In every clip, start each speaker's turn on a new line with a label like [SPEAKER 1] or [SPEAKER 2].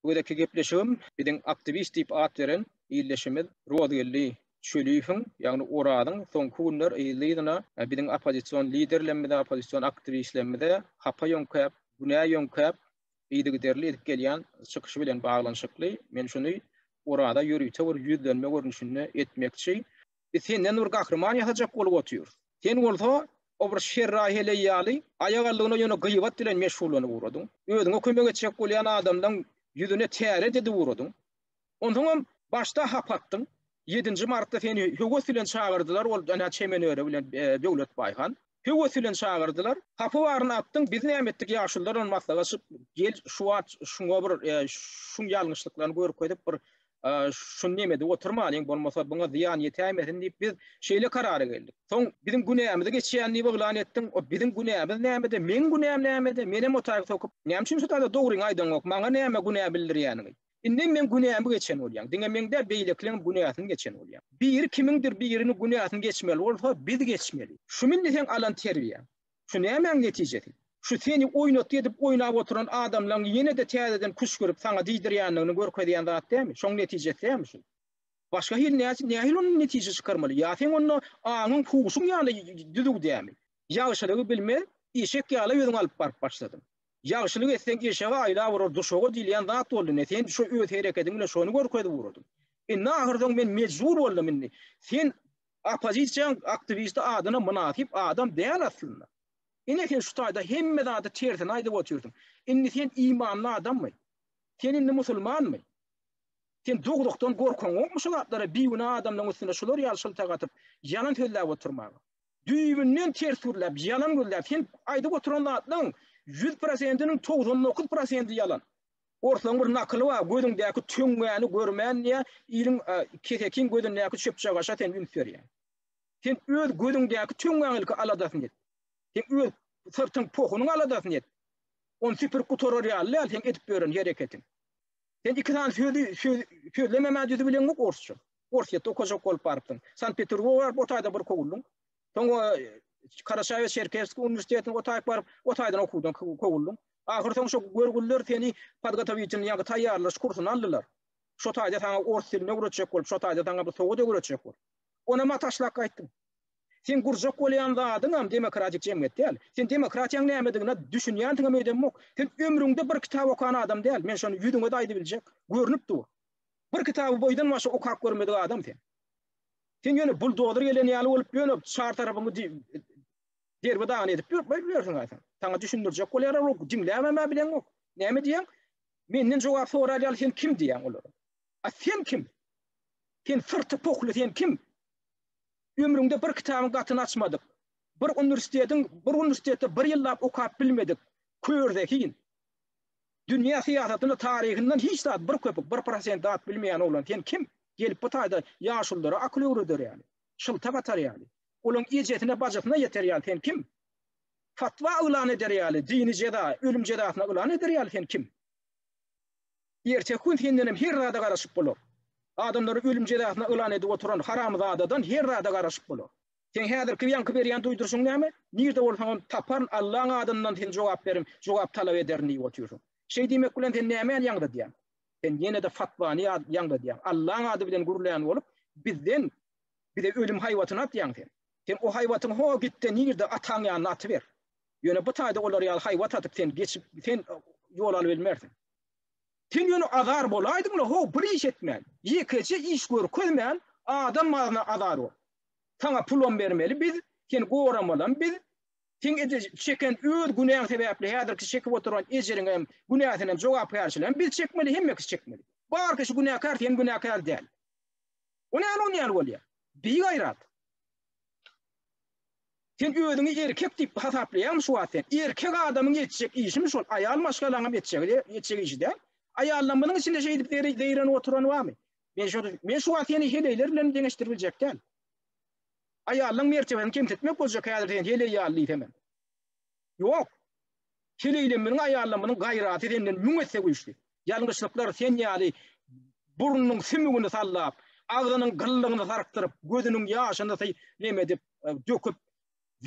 [SPEAKER 1] Bu gezekki gepleşigim biziň aktiwist diýip at beren ildeşimiz Rozgeldi Çöliýewiň, ýagny Orazyň soňky günler yzly-yzyna biziň oppozision liderlerimize, oppozision aktiwistlerimize hapa ýöňkäp, günä ýöňkäp, yzygiderli edip gelýän çykyşy bilen baglanyşykly. Men şuny Oraza ýörite bir ýüzlenme görnüşinde etmekçi. Biz senden bir gahryman ýasajak bolup otyrys. Sen bolsa, o bir şerraý-heleý ýaly, aýagallygyna ýöne gyýbat bilen meşgullanyp ugradyň. Özüňe kömek etjek bolýan adamlaň ýüzüne täre didip ugradyň. Onsoňam başda hap atdyň. Ýedinji martda seni höwes bilen çagyrdylar, ol ynha çemenöre bilen Döwletbaý han. höwes bilen çagyrdylar. Hapa baryn atdyň, biz näme etdik ýaşulylar bilen maslahaşyp, gel şu wagt şuňa bir şuň ýalňyşlyklaryny görkezip bir şuny neme edip oturmalyň, bolmasa buňa zyýan ýetäýmesin diýip biz şeýle karara geldik. Soň biziň günämizi geçýän diýip yglan etdiň, o biziň günämiz nämede, meň günäm nämede, menem o taýy sokup, näme üçin şu taýda dogryňy aýdaňok, maňa näme günä bildirýäniňi? Indem men günämi geçen bolýan. Diňe men däl, beýlekileňem günäsini geçen bolýan. Biri kimiňdir birini günäsini geçmeli bolsa, biz geçmeli. Şu milli seň alan terbiýäň. Şu nämäň netijesi? Şu seni oýnatgy edip oýnap oturan adamlaň ýene-de täzeden küşgürip saňa diýdirýändigini görkezýän zat dälmi? Şoň netijesi dälmi şu? Başga hili näçe nähili ondan netije çykarmaly? Ýa seň onda aňyň, huşuň ýaly düzüw dälmi? Ýagşylygy bilmez, işek ýaly özüňi alyp baryp başladyň. Ýagşylyk etseň eşege aýlap urar duşaga diýilýän zat boldy ine sen şu öz herekediň bilen şony görkezip ugradyň. Indi ahyrsoň men mejbur boldum indi sen oppozisiýaň aktiwisti adyna mynasyp adam däl aslynda. Ine sen şu taýda hemme zady tersine aýdyp otyrsyň. Indi sen imanly adammy? Sen indi musulmanmy? Sen dogrukdan gorkaň ýokmy şu zatlara bigünä adamlaryň üstüne şular ýaly şyltak atyp ýalan sözläp oturmaga. Düýbünden ters gürläp, ýalan gürläp, sen aýdyp oturan zatlaryň ýüz prosentiniň togsan dokuz prosenti ýalan. Orslaň bir nakyly bar, Gözüňdäki töňňäni görmän diýýä, iliň kesekiň gözündäki çöpçegaşa sen üns berýäň. Sen öz gözüňdäki töňňäň ilki aladasyny et. Sen öz syrtyň pohunyň aladasyny et. Ony süpürip gutarar ýaly däl seň edip ýören hereketiň. Sen iki sany sözi sözlememä düzi bileňok orsça. Orsýetde okajak bolup barypsyň. Sankt-Peterburga baryp, o taýda bir kowuldyň. Soň Karaşaýew Çerkesskiý uniwersitetine o taýyp baryp, o taýdan okuwdan kowuldyň. Ahyr soň şo görgüliler seni podgotowitelniý, ýagny taýýarlaş kursyna aldylar. Şo taýda saňa ors dilini öwretjek bolup, şo taýda saňa bu sowat öwretjek bolup. Onam-a taşlap gaýtdyň. Seň gurjak bolýan zadyňam demokratik jemgyýet däl. Sen demokratiýaň nämedigine düşünýändigiňem öýdemok. Sen ömrüňde bir kitap okan adam däl, men şony ýüzüňe-de aýdybiljek, görnüp dur. Bir kitaby boýdan başa okap görmedik adam sen. Sen ýöne buldozer gelen ýaly bolup ýöne çar tarapyňy derbi-dagyn edip ýörüň aýsam. Saňa düşündirjek bolýar ol diňläbem-ä bileňok. Näme diýýäň? Menden jogap sorar ýaly sen kim diýýäň olara? A sen kim? Sen syrty pohly sen kim? Ömrüňde bir kitabyň gatyny açmadyk, bir uniwersitetiň, bir uniwersitetde bir ýyllap okap bilmedik kör zehin, dünýä syýasatynda taryhyndan hiç zat bir köpük, bir prosent zat bilmeýän oglan sen kim? Gelip bu taýda ýaşulylara akyl öwreder ýaly, şylta gatar ýaly, olaň ejesine, bajysyna ýeter ýaly sen kim? Fatwa yglan eder ýaly, dini jeza, ölüm jezasyna yglan eder ýaly sen kim? Erteki gün sendenem her zada garaşyp bolar. Adamlary ölüm jezasyna yglan edip oturan haramzadadan her zada garaşyp bolar. Seň häzirki ýaňky berýän duýduryşyň näme? Nirde bolsaňam taparyn Allaň adyndan seni jogap berin, jogap talap ederin diýip otyrsyň. Şeý diýmek bilen sen nämäni ýaňzydýaň? Sen ýene-de fatwany ýaňzydýaň. Allaň ady bilen gürlän bolup, bizden bize ölüm haýbatyny atýaň sen. Sen o haýbatyňy ho gitde nirde ataň ýanyna atyber. Ýöne bu taýda olar ýaly haýbat atyp sen geçip sen ýol alybilmersiň. Sen ýöne azar bolaýdyň-la how, bir iş etmän, ýekeje iş görkezmän, adam mazyna azar bol. Saňa pulam bermeli biz, seni goramalam biz, seň ede çeken öz günäň sebäpli häzirki çekip oturan ejiriňem, günäsinem, jogapkärçiligem biz çekmeli, hemme kişi çekmeli. Bar kişi günäkär, sen günäkär däl. O näme on ýaly bolýar? Bigaýrat. Sen özüňi erkek diýip hasaplaýaňmy şu wagt sen? Erkek adamyň etjek işimi şol, aýal maşgalaňam etjegi etjek işi däl. Aýallaň munuň içinde şeýdip zeýrenip oturany barmy? Men şo men şu wagt seni heleýler bilen deňeşdirip biljek däl. Aýallaň mertebesini kemsitmek boljak häzir sen heleý ýaly diýsemem. Ýok. Heleýleminiň aýallamynyň gaýraty senden müň esse güýçli. Ýalňyşlyklar sen ýaly burnunyň sümügini sallap, agzynyň gyllygyny sarkdyryp, gözüniň ýaşyny sy nem edip, döküp,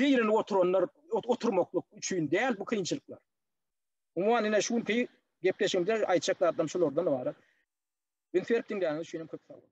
[SPEAKER 1] zeýrenip oturanlar oturmaklyk üçin däl bu kynçylyklar. Umuman, ine, şu günki gepleşigimde aýtjak zatlarym şulardan ybarat. Üns berip diňläniňiz üçinem köp sag boluň.